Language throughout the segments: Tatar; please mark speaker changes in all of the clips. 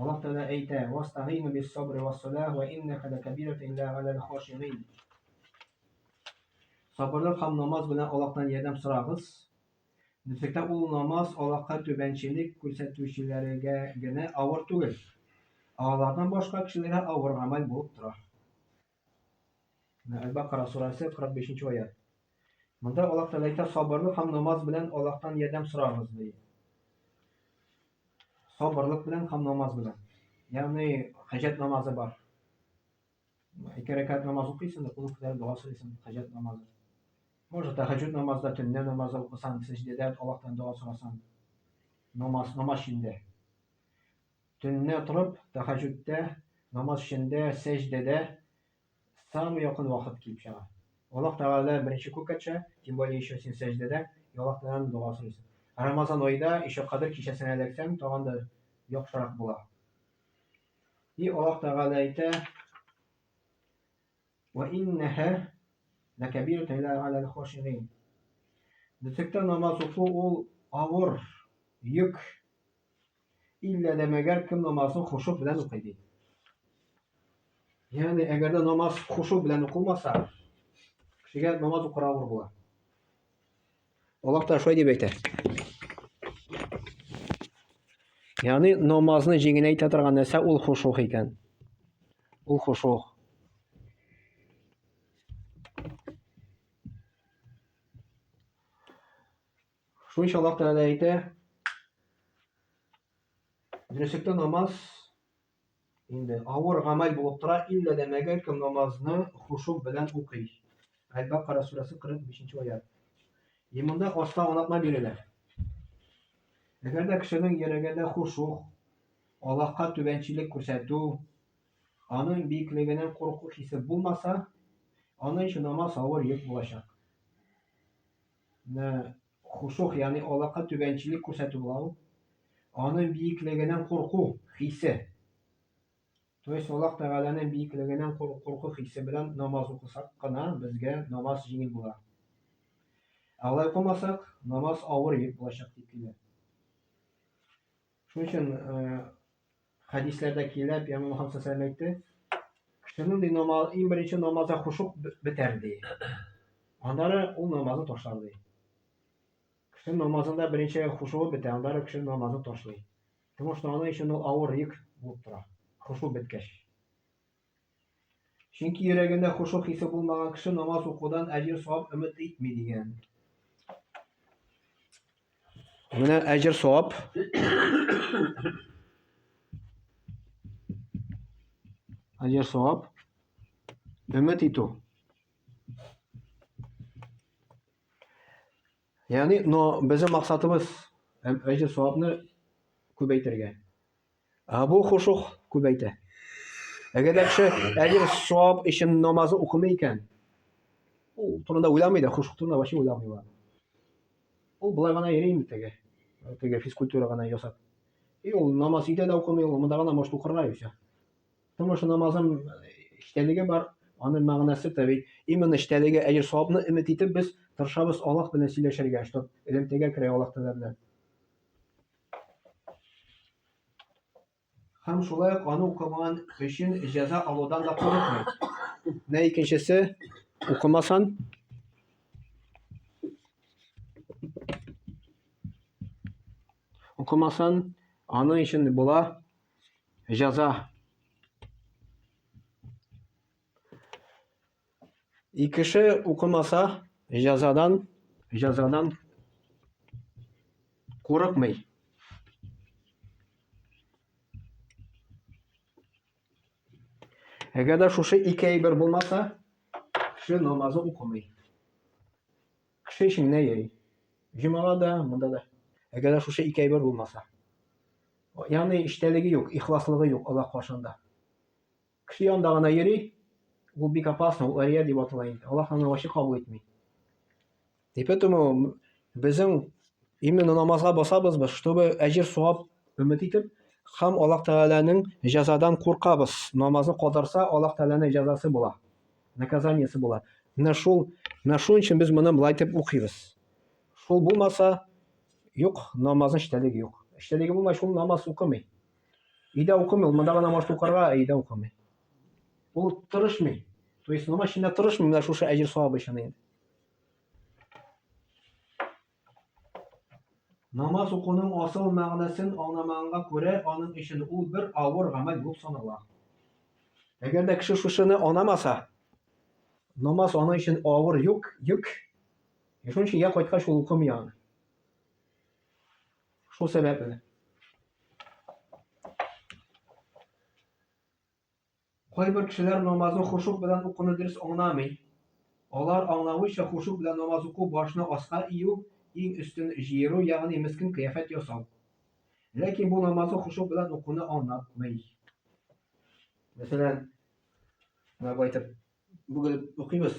Speaker 1: Аллаһ Тәгалә әйтә: "Вастагыйну бис-сабри вас-салах ва иннаха лакабират илля галәл хашигин". Сабырлык һәм намаз белән Аллаһтан ярдәм сорагыз. Ничектә ул намаз Аллаһка түбәнчелек күрсәтүчеләргә генә авыр түгел, ә алардан башка кешеләргә авыр гамәл булып тора. Менә Әл-Бакара сурәсе 45 нче аят. Монда Аллаһ Тәгалә әйтә, сабырлык һәм намаз белән Аллаһтан ярдәм сорагыз, ди. Сабырлык белән һәм намаз белән. Ягъни хаҗәт намазы бар. Ике рәкәт намаз укыйсың, кулың күтәреп дога сорыйсың, хаҗәт намазы. Может, тәһәҗҗүд намазда, төнлә намазда укысан, сәҗдәдә Аллаһтан дога сорасан. Намаз, намаз чиндә. Төнлә торып, тәһаҗүдтә, намаз эчендә, сәҗдәдә самый якын вакыт килеп чыга. Аллаһ Тәгалә беренче күккә төшә, тем более ещё син сәҗдәдә, и Аллаһ Тәгаләдән дога сорыйсың. Ә Рамазан аенда ещё Кадер кичәсенә эләксәң, тагын да яхшырак була. И Аллаһ Тәгалә әйтә, Вә иннәһә ләкәбиратун илә галәл хошигин. Бөтеклектә намаз уку ул авыр йөк. Иллә дә мәгәр кем намазын хошук белән укый ди. Ягъни, әгәр дә намаз хошук белән укылмаса, кешегә намаз укырга авыр була. Аллаһ та шулай дип әйтә. Ягъни, намазны җиңеләйтә торган нәрсә ул хошук икән. Ул хошук. Шунча Аллаһ Тәгалә әйтә, Дөреслектә намаз инде авыр гамәл булып тора, иллә дә мәгәр кем намазны хушук белән укый. Әл-Бакара сүрәсе 45 аят. И монда аста аңлатма бирелә. Әгәр дә кешенең йөрәгендә хушук, Аллаһка түбәнчелек күрсәтү, аның биеклегеннән курку хисе булмаса, аның өчен намаз авыр йөк булачак. Ны хушух, ягъни Аллаһка түбәнчелек күрсәтү була ул. Аның биеклегеннән курку хисе. То есть Аллаһ Тәгаләнең биеклегеннән курку хисе белән намаз укысак кына безгә намаз җиңел була. Алай укымасак, намаз авыр йөк булачак дип килә. Шуның өчен хәдисләрдә килә, пәйгамбер Мөхәммәд саллаллаху алейһи әйтте, кешенең ди намаз, иң беренче намазы хушук бетәр ди. Аннары ул намазы ташлар ди. Кеше намазында беренче хушуы бетә, аннары кеше намазы ташлый. Потому что аның өчен ул авыр йөк булып тора. Хушу беткәч. Чөнки йөрәгендә хушу хисе булмаган кеше намаз укудан әҗер савап өмет итми дигән. Менә әҗер савап. Әҗер савап. Өмет итү. Ягъни, но безнең максатыбыз һәм әҗер савапны күбәйтергә. Ә бу хушух күбәйтә. Әгәр дә кеше әҗер савап өчен намаз укымый икән, ул турында уйламый да, хушух турында вообще уйламый ул. Ул болай гына йөри инде теге, теге физкультура гына ясап. И ул намаз өйдә дә укымый, ул монда гына может укырга и все. Потому что намазым эчтәлеге бар, аның мәгънәсе тә бит именно эчтәлеге, әҗер савапны өмет итеп без тырышабыз Аллаһ белән сөйләшергә, что элемтәгә керә Аллаһ Тәгалә белән. Һәм шулай ук аны укымаган өчен җәза алудан да курыкмый. Менә икенчесе укымасан укымасан аның өчен була Җаза. И кеше укымаса, җазадан, җазадан курыкмый. Әгәр дә шушы ике әйбер булмаса, кеше намазы укымый. Кеше эше менә йөри. Җомага да, монда да. Әгәр дә шушы ике әйбер булмаса. Ягъни эчтәлеге юк, ихласлыгы юк Аллаһ каршында. Кеше янында гына йөри, ул бик опасно, ул ария дип атала инде. Аллаһ аны вачы кабул итми. И поэтому безнең именно намазга басабыз без, чтобы әҗир савап өмет итеп, һәм Аллаһ Тәгаләнең җәзадан куркабыз. Намазны калдырса, Аллаһ Тәгаләнең җәзасы була. наказаниесе була. Менә шул, менә шуның өчен без моны былай дип укыйбыз. Шул булмаса, юк, намазның эчтәлеге юк. Эчтәлеге булмай, шул намаз укымый. Өйдә укымый, ул монда гына может укырга, ә өйдә укымый. Ул тырышмый. То есть намаз эчендә тырышмый, менә шушы әҗер савабы өчен инде. Намаз укуның асыл мәгънәсен аңламаганга күрә, аның өчен ул бер авыр гамәл булып санала. Әгәр дә кеше шушыны аңламаса, намаз аның өчен авыр юк, йөк. Шуның өчен я кайткач ул укымый аны. Шул сәбәпле. Кайбер кешеләр намазны хошуг белән укуны дөрес аңламый. Алар аңлавыйча, хошуг белән намаз уку башны аска ию, иң өстен җыеру, ягъни мескен кыяфәт ясау. Ләкин бу намазны хошуг белән укуны аңлатмый. Мәсәлән, менә бу әйтеп, бөгелеп укыйбыз,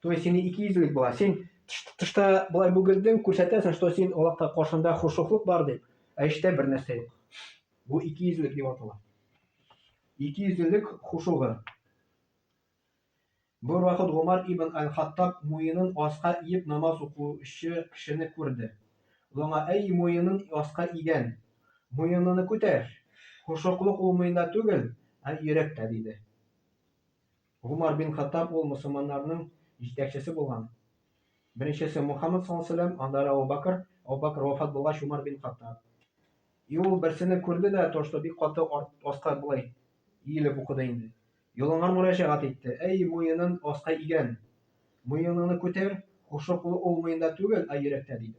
Speaker 1: То есть сине ике йөзлек була. Син тышта болай бүгелдең, күрсәтәсең, что син Аллаһка каршында хушуклык бар дип, ә эчтә бер нәрсә юк. Бу ике йөзлек дип атала. Ике йөзлелек хушугы. Бер вакыт Гомар ибн Аль-Хаттаб муенын аска иеп намаз укучы кешене күрде. Лоңа әй муенын аска игән. Муеныны күтәр. Хушуклык ул муенда түгел, ә йөрәктә, диде. Гомар бин Хаттаб ул мөселманнарның җитәкчесе булган. Беренчесе Мухаммад саллаллаһу алейһи ва сәлләм, аннары Әбу Бәкер, Әбу Бәкер вафат булгач Умар бин Хаттаб. И ул берсене күрде дә, то что бик каты аска болай иелеп укыды инде. Йолынган мөрәҗәгать итте, әй, муенын аска игән, муеныңны күтәр, хушлык ул муенда түгел, ә йөрәктә, диде.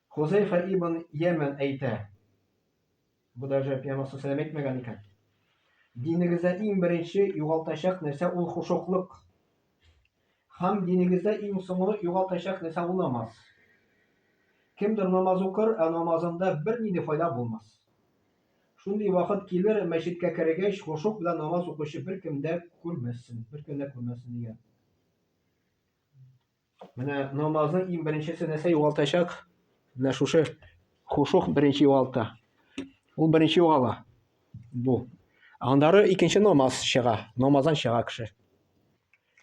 Speaker 1: Хозәйфә ибн Ямән әйтә, бу даже Пәйгамбәр саллаллаһу әйтмәгән икән, Динегездә иң беренче югалтачак нәрсә ул хушуклык. Һәм динегездә иң соңгы югалтачак нәрсә ул намаз. Кемдер намаз укыр, ә намазында бернинди файда булмас. Шундый вакыт килер, мәчеткә кергәч, хушук белән намаз укучы беркем дә күрмәссең, беркем дә күрмәссең дигән. Менә намазның иң беренчесе нәрсә югалтачак? Менә шушы хушух беренче югалта. Ул беренче югала. Бу. Аннары икенче намаз чыга. Намаздан чыга кеше.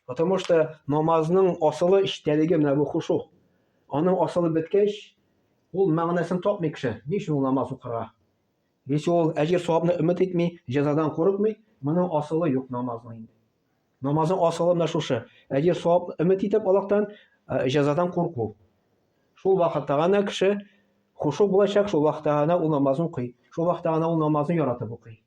Speaker 1: Потому что намазның асылы эчтәлеге менә бу хушух. Аның асылы беткәч, ул мәгънәсен тапмый кеше. Ни өчен ул намаз укырга? Если ул әҗер савабны өмет итми, җәзадан курыкмый, моның асылы юк намазның инде. Намазның асылы менә шушы. Әҗер савап өмет итеп Аллаһтан, ә, җәзадан курку. Шул вакытта гына кеше хушу булачак, шул вакытта гына ул намазын укый. Шул вакытта гына ул намазны яратып укый.